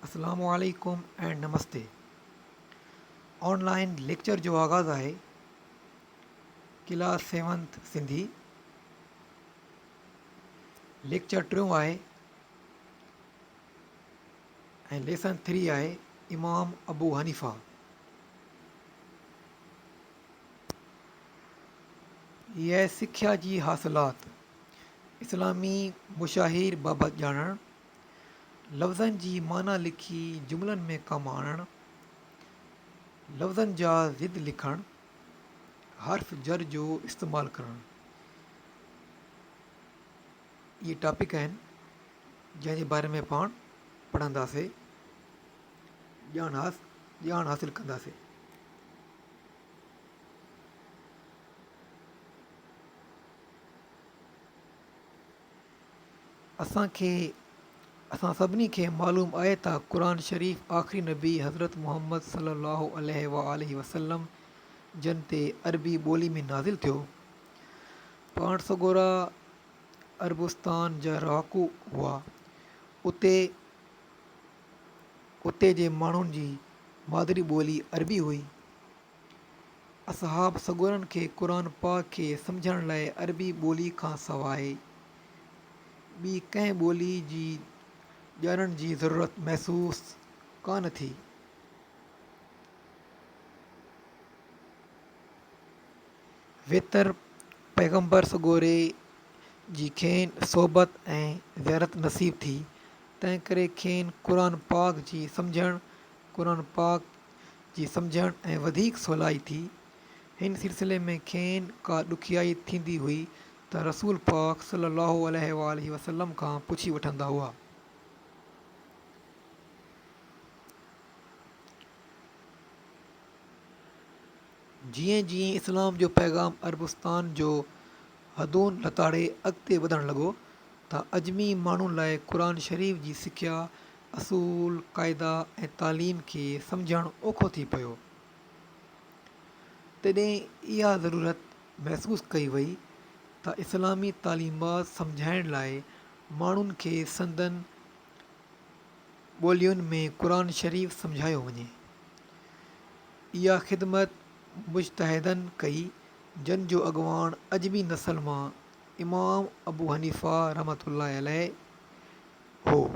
اسلام عليڪم ۽ نمستي آن لائن ليڪچر جو آغاز آهي ڪلاس سيونٿ سنڌي ليڪچر ٽيون آهي ۽ ليسن ٿري آهي امام ابو حنيفا هيء سکيا جي حاصلات اسلامي مشاهير بابت ڄاڻڻ، لفظن جي معنيٰ لکي جملن ۾ ڪم آڻڻ، لفظن جا ضد لکڻ، حرف جر جو استعمال ڪرڻ، اهي ٽاپڪ آهن جنهن جي باري ۾ پاڻ پڙهنداسين ڄاڻ ڄاڻ حاصل ڪنداسين. اسان کي اسان سڀني کي معلوم آهي ته قرآن شريف آخري نبي حضرت محمد صلي الله عليه وآله وسلم جن تي عربي ٻولي ۾ نازل ٿيو. پاڻ سڳورا عربستان جا رهاڪو هئا. اتي اتي جي ماڻهن جي مادري ٻولي عربي هئي. اصحاب سڳورن کي قرآن پاڪ کي سمجهڻ لاء عربي ٻولي کان سواء ٻي ڪنهن ٻولي جي ڄاڻڻ جي ضرورت محسوس ڪانه ٿي. ويتر پيغمبر سڳوري جي کين صحبت ۽ زيارت نصيب ٿي، تنهنڪري کين قرآن پاڪ جي سمجهڻ، قرآن پاڪ جي سمجهڻ ۽ وڌيڪ سولائي ٿي، هن سلسلي ۾ کين ڪا ڏکيائي ٿيندي هئي ته رسول پاڪ صلّي اللّٰه عليه واٰله وسلّم کان پڇي وٺندا هئا. جيئن جيئن اسلام جو پيغام عربستان جون حدون لتاڙي اڳتي وڌڻ لڳو ته عجمي ماڻهن لاء قرآن شريف جي سکيا اصول، قاعدا ۽ تعليم کي سمجهڻ اوکو ٿي پيو. تڏهن اها ضرورت محسوس ڪئي وئي ته اسلامي تعليمات سمجهائڻ لاء ماڻهن کي سندن ٻولين ۾ قرآن شريف سمجهايو وڃي. اها خدمت مجتهدن ڪئي، جن جو اڳواڻ عجمي نسل مان امام ابو حنيفه رحمة الله عليه، هو.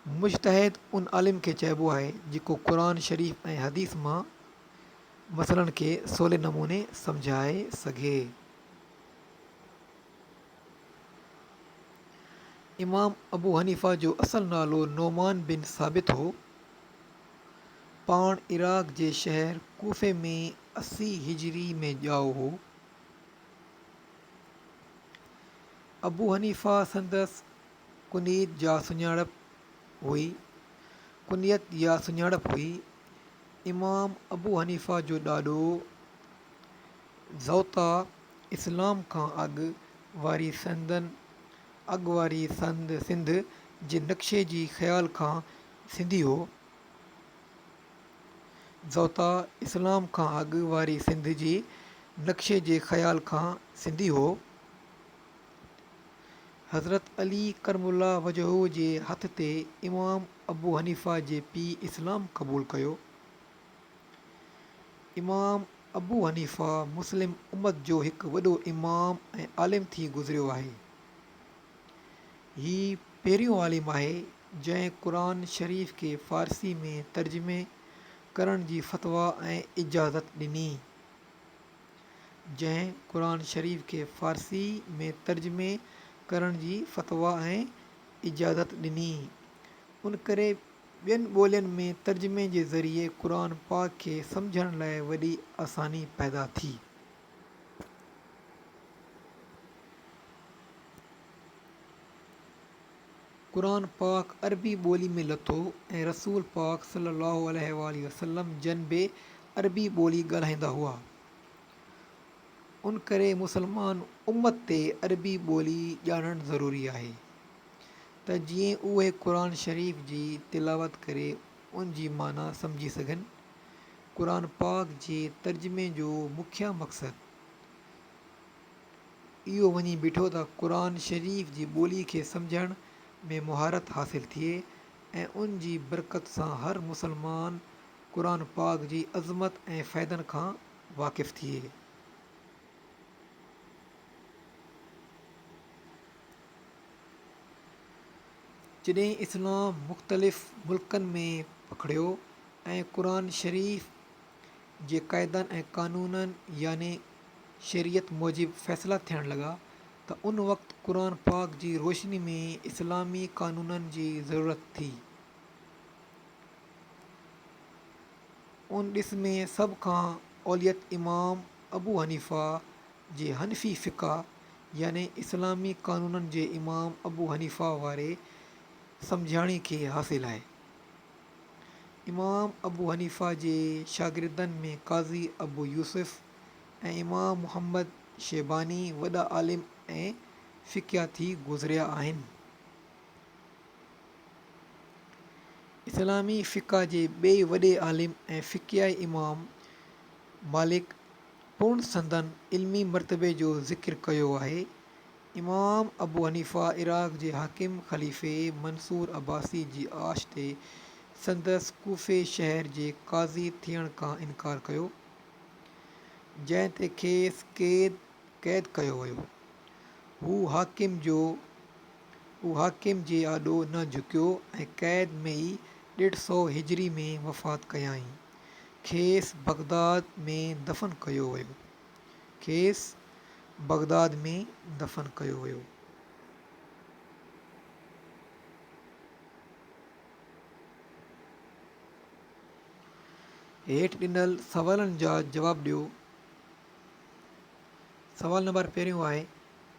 مجتهد ان عالم کي چئبو آهي جيڪو قرآن شريف ۽ حديث مان مسئلن کي سولي نموني سمجهائي سگهي. امام ابو حنيفه جو اصل نالو نعمان بن ثابت هو. پاڻ عراق جي شهر ڪوفي ۾ اسي هجري ۾ ڄائو هو. ابو حنيفه سندس ڪنيت جا سڃاڻپ هئي ڪنيت يا سڃاڻپ هئي. امام ابو حنيفه جو ڏاڏو زوطا اسلام کان اڳ واري سندن اڳ واري سند سنڌ جي نقشي جي خيال کان سنڌي هو. زوطا اسلام کان اڳ واري سنڌ جي نقشي جي خيال کان سنڌي هو. حضرت علي ڪرم الله وجهه جي هٿ تي امام ابو حنيفه جي پيء اسلام قبول ڪيو. امام ابو حنيفه مسلم امت جو هڪ وڏو امام ۽ عالم ٿي گذريو آهي. هي پهريون عالم آهي جنهن قرآن شريف کي فارسي ۾ ترجمي ڪرڻ جي فتويٰ ۽ اجازت ڏني. جنهن قرآن شريف کي فارسي ۾ ترجمي ڪرڻ جي فتويٰ ۽ اجازت ڏني. ان ڪري ٻين ٻولين ۾ ترجمي جي ذريعي قرآن پاڪ کي سمجهڻ لاء وڏي آساني پيدا ٿي. قرآن پاڪ عربي ٻولي ۾ لٿو ۽ رسول پاڪ صلّي اللّٰه عليه واٰله وسلّم جن به عربي ٻولي ڳالهائيندا هئا ان ڪري مسلمان امّت تي عربي ٻولي ڄاڻڻ ضروري آهي ته جيئن اهي قرآن شريف جي تلاوت ڪري ان جي معنيٰ سمجهي سگهن قرآن پاڪ جي ترجمي جو مکيه مقصد اهو وڃي بيٺو ته قرآن شريف جي ٻولي کي سمجهڻ ۾ مهارت حاصل ٿئي ۽ ان جي برڪت سان هر مسلمان قرآن پاڪ جي عظمت ۽ فائدن کان واقف ٿئي. جڏهن اسلام مختلف ملڪن ۾ پکڙيو ۽ قرآن شريف جي قاعدن ۽ قانونن يعني شريعت موجب فيصلا ٿيڻ لڳا ته ان وقت قرآن پاڪ جي روشني ۾ اسلامي قانونن جي ضرورت ٿي. ان ڏس ۾ سڀ کان اوليت امام ابو حنيفه جي حنفي فقه يعني اسلامي قانونن جي امام ابو حنيفه واري سمجهاڻي کي حاصل آهي. امام ابو حنيفه جي شاگردن ۾ قاضي ابو يوسف ۽ امام محمد شيباني وڏا عالم ۽ فقيه ٿي گذريا آهن. اسلامي فقه جي ٻئي وڏي عالم ۽ فقيه امام مالڪ پڻ سندن علمي مرتبي جو ذڪر ڪيو آهي. امام ابو حنيفه عراق جي حاڪم خليفي منصور عباسي جي آڇ تي سندس ڪوفي شهر جي قاضي ٿيڻ کان انڪار ڪيو، جنهن تي کيس قيد ڪيو ويو. هو حاڪم جو هو حاڪم جي آڏو نه جهڪيو ۽ قيد ۾ ئي ڏيڍ سؤ هجري ۾ وفات ڪيائين. کيس بغداد ۾ دفن ڪيو ويو. کيس بغداد ۾ دفن ڪيو ويو. هيٺ ڏنل سوالن جا جواب ڏيو. سوال نمبر پهريون آهي،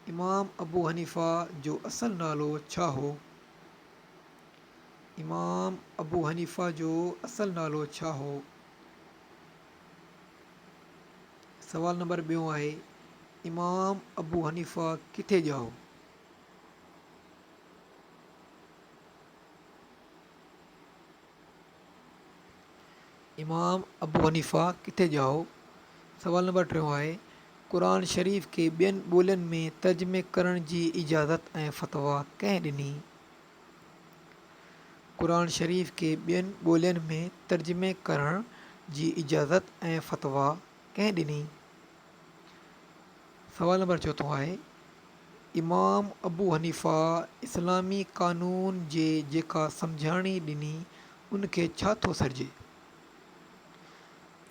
امام ابو حنيفه جو اصل نالو ڇا هو؟ امام ابو حنيفه جو اصل نالو ڇا هو؟ سوال نمبر ٻيون آهي امام ابو حنيفه ڪٿي ڄائو؟ امام ابو حنيفه ڪٿي ڄائو؟ سوال نمبر ٽيون آهي قرآن شريف کي ٻين ٻولين ۾ ترجمي ڪرڻ جي اجازت ۽ فتويٰ ڪنهن ڏني؟ قرآن شريف کي ٻين ٻولين ۾ ترجمي ڪرڻ جي اجازت ۽ فتويٰ ڪنهن ڏني؟ سوال نمبر چوٿون آهي امام ابو حنيفه اسلامي قانون جي جيڪا سمجهاڻي ڏني ان کي ڇا ٿو سڏجي؟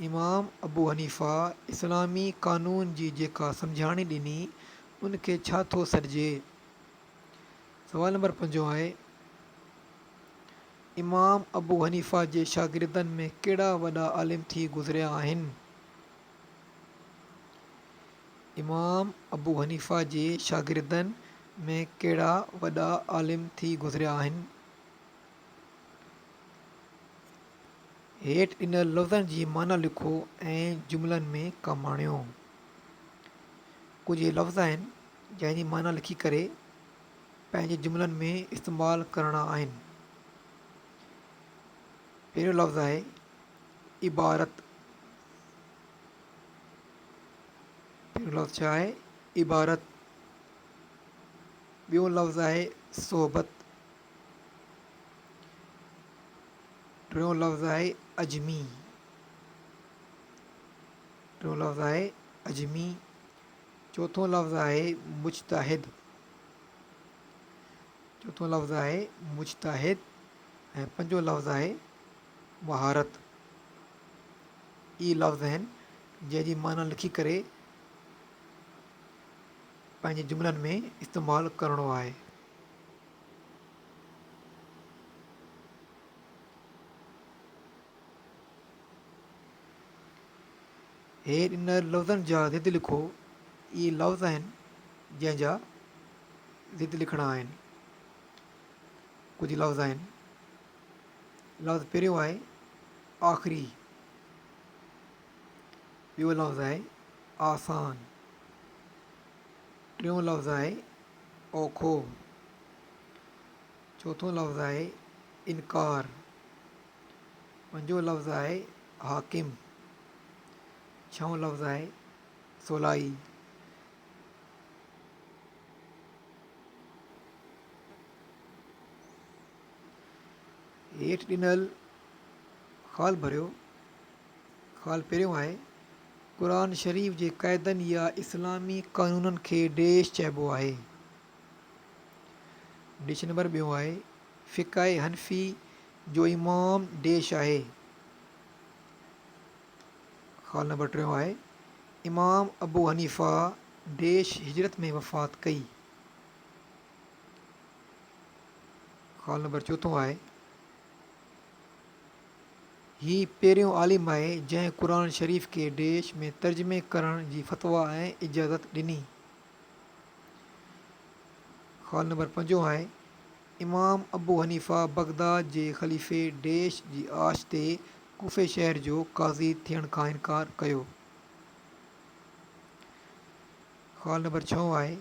امام ابو حنيفه اسلامي قانون جي جيڪا سمجهاڻي ڏني ان کي ڇا ٿو سڏجي؟ سوال نمبر پنجون آهي، امام ابو حنيفه جي شاگردن ۾ ڪهڙا وڏا عالم ٿي گذريا آهن؟ امام ابو حنيفه جي شاگردن ۾ ڪهڙا وڏا عالم ٿي گذريا آهن؟ هيٺ ڏنل لفظن جي معنيٰ لکو ۽ جملن ۾ ڪم آڻيو. ڪجهه هي لفظ آهن، جنهن جي معنيٰ لکي ڪري پنهنجي جملن ۾ استعمال ڪرڻا آهن. پهريون لفظ آهي، عبارت، پهريون لفظ ڇا آهي؟ عبارت. ٻيون لفظ آهي، صحبت. ٽيون لفظ آهي، عجمي. ٽيون لفظ آهي، عجمي. چوٿون لفظ آهي مجتهد، چوٿون لفظ آهي مجتهد ۽ پنجون لفظ آهي مهارت. اهي لفظ آهن جنهن جي معنيٰ لکي ڪري پنهنجي جملن ۾ استعمال ڪرڻو آهي. هي ان لفظن جا ضد لکو، اهي لفظ آهن جنهن جا ضد لکڻا آهن. ڪجهه لفظ آهن. لفظ پهريون آهي آخري، ٻيو لفظ آهي آسان، ٽيون لفظ آهي اوکو، چوٿون لفظ آهي انڪار. پنجون لفظ آهي حاڪم. ڇهون لفظ آهي سولائي. هيٺ ڏنل خال ڀريو. خال پهريون آهي، قرآن شريف جي قاعدن يا اسلامي قانونن کي ڊيش چئبو آهي. ڊيش نمبر ٻيون آهي، فقه حنفي جو امام ديش آهي. خال نمبر ٽيون آهي. امام ابو حنيفه ديش هجرت ۾ وفات ڪئي. خال نمبر چوٿون آهي. هي پهريون عالم آهي جنهن قرآن شريف کي ديش ۾ ترجمي ڪرڻ جي فتويٰ ۽ اجازت ڏني. خال نمبر پنجون آهي. امام ابو حنيفه بغداد جي خليفي ڊيش جي آڇ تي ڪوفي شهر جو قاضي ٿيڻ کان انڪار ڪيو. خال نمبر ڇهون آهي.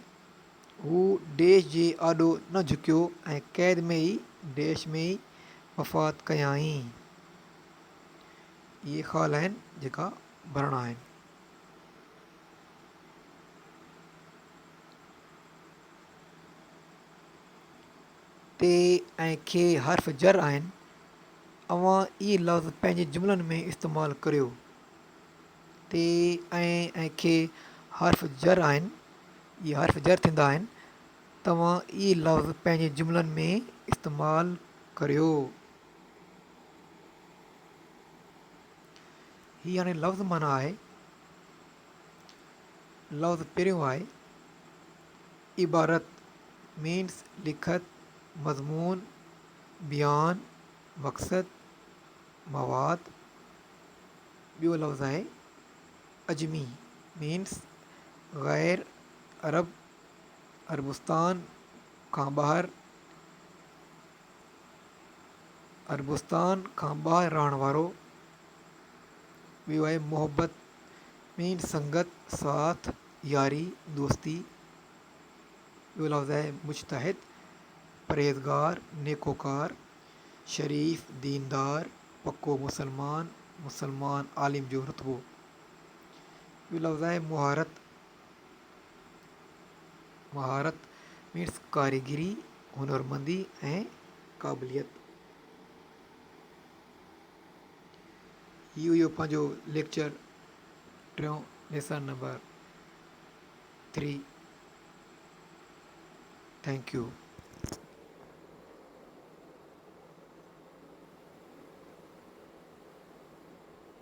هو ڊيش جي آڏو نه جهڪيو ۽ قيد ۾ ئي ڊيش ۾ ئي وفات ڪيائين. اهي خال آهن جيڪا ڀرڻا آهن. ت ۽ خ حرف جر آهن، اوهان اهي لفظ پنهنجي جملن ۾ استعمال ڪريو. ت ۽ خ حرف جر آهن، اهي حرف جر ٿيندا آهن، توهان اهي لفظ پنهنجي جملن ۾ استعمال ڪريو. هي يعني لفظ معنيٰ آهي، لفظ پريون آهي، عبارت، Means، لکت، مضمون، بيان، مقصد، مواد، ٻيو لفظ آهي، عجمي، Means، غير عرب، عربستان کان ٻاهر، عربستان کان ٻاهر رهڻ وارو، ويو آهي محبت ۾ سنگت ساٿ ياري دوستي ٻيو لفظ آهي مجتهد پرهيزگار نيڪوڪار شريف ديندار پڪو مسلمان مسلمان عالم جو رتبو ٻيو لفظ آهي مهارت مهارت مينس ڪاريگري هنرمندي ۽ قابليت هي هيو پنهنجو ليڪچر ٽيون lesson number three thank U